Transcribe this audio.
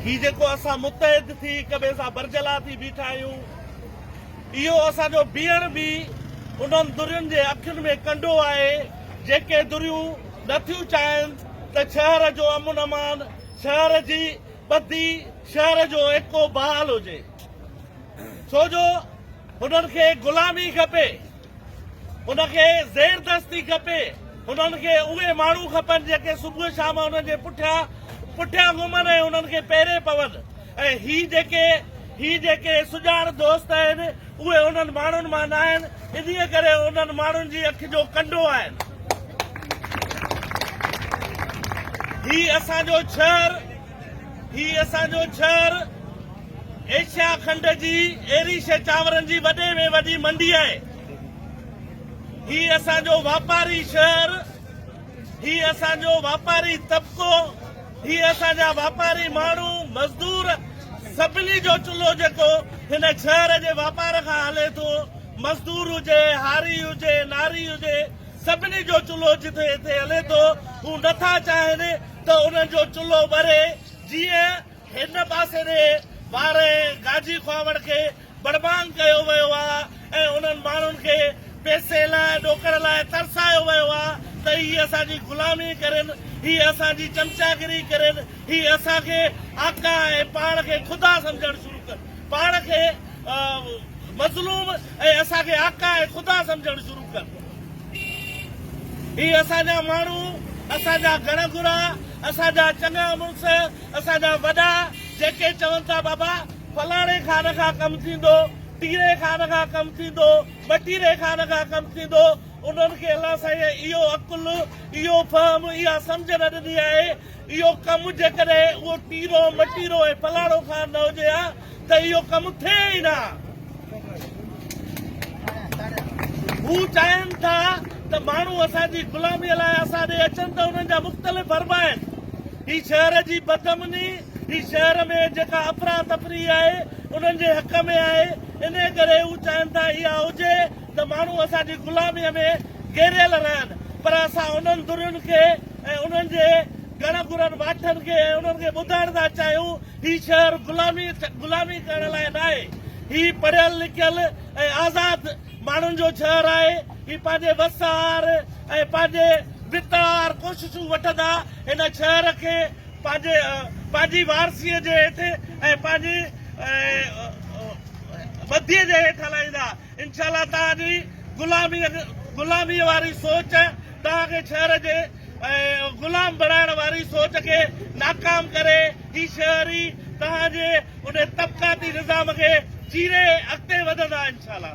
هي جيڪو اسان متحد ٿي هڪ ٻئي سان برجلا ٿي بيٺا آهيون اهو اسان جو بيهڻ به انهن درين جي اکين ۾ ڪنڊو آهي جيڪي دريون نه ٿيون چاهين ته شهر جو امن امان شهر جي ٻڌي شهر جو ايڪو بحال هجي سو جو هنن کي غلامي کپي هن کي زير دست ٿي کپي. هنن کي اهي ماڻهو کپن جيڪي صبح شام هنن جي پٺيان پٺيان گهمن ۽ هنن کي پيري پون ۽ هي جيڪي هي جيڪي سڄاڻ دوست آهن اهي انهن ماڻهن مان ناهن انهي ڪري انهن ماڻهن جي اک جو ڪنڊو آهن. هي اسان جو شهر هي اسان جو شهر ايشيا کنڊ جي ايري شي چانورن جي وڏي ۾ وڏي منڊي آهي. هي اسان جو واپاري شهر، هي اسان جو واپاري طبقو، هي اسان جا واپاري ماڻهو، مزدور سڀني جو چلهو جيڪو هن شهر جي واپار کان هلي ٿو. مزدور هجي، هاري هجي، ناري هجي سڀني جو چلهو جتي هتي هلي ٿو. هو نٿا چاهين ته انهن جو چلهو ٻري، جيئن هن پاسي ڏي ٻارهين گاجي کهاوڙ کي بڙبانگ ڪيو ويو آ ۽ انهن ماڻهن کي پئسي لاء ڏوڪڙ لاء ترسايو ويو آ ته هي اسان جي غلامي ڪرين، هي اسان جي چمچاگري ڪرين، هي اسان کي آقا ۽ پاڻ کي خدا سمجهڻ شروع ڪن، پاڻ کي مظلوم ۽ اسان کي آقا ۽ خدا سمجهڻ شروع ڪن. هي اسان جا ماڻهو، اسان جا گهڻ گهرا، اسان جا چڱا مڙس، اسان جا وڏا، جيڪي چون ٿا بابا فلاڻي خان کان ڪم ٿيندو، ٽيري خان کان ڪم ٿيندو، ٻٽيري خان کان ڪم ٿيندو، انهن کي الله سائينء اهو عقل، اهو فهم، اها سمجهه نه ڏني آهي. اهو ڪم جيڪڏهن اهو ٽيرو، مٽيرو ۽ فلاڻو خان نه هجي ها، ته اهو ڪم ٿئي ئي نه. هو چاهين ٿا ته ماڻهو اسان جي غلاميء لاء اسان ڏي اچن ته انهن جا مختلف فرما آهن. هي شهر جي بدامني، هي شهر ۾ جيڪا افراتفري آهي، انهن جي حق ۾ آهي. انهيء ڪري هو چاهين ٿا اها هجي ته ماڻهو اسان جي غلاميء ۾ گهيريل رهن پر اسان انهن ڌرين کي ۽ انهن جي گهڻ گهرن واٺن کي ۽ انهن کي ٻڌائڻ ٿا چاهيون هي شهر غلامي غلامي ڪرڻ لاء ناهي هي پڙهيل لکيل ۽ آزاد ماڻهن جو شهر آهي هي پنهنجي وس آهر ۽ پنهنجي وت آهر ڪوششون وٺندا هن شهر کي پنهنجي پنهنجي وارثي جي هيٺ ۽ پنهنجي ٻڌي جي هيٺ هلائيندا انشاء الله تعالي غلامي غلامي واري سوچ توهان کي شهر جي غلام بڻائڻ واري سوچ کي ناڪام ڪري هي شهر ئي توهان جي ان طبقاتي نظام کي چيري اڳتي وڌندا انشاءالله.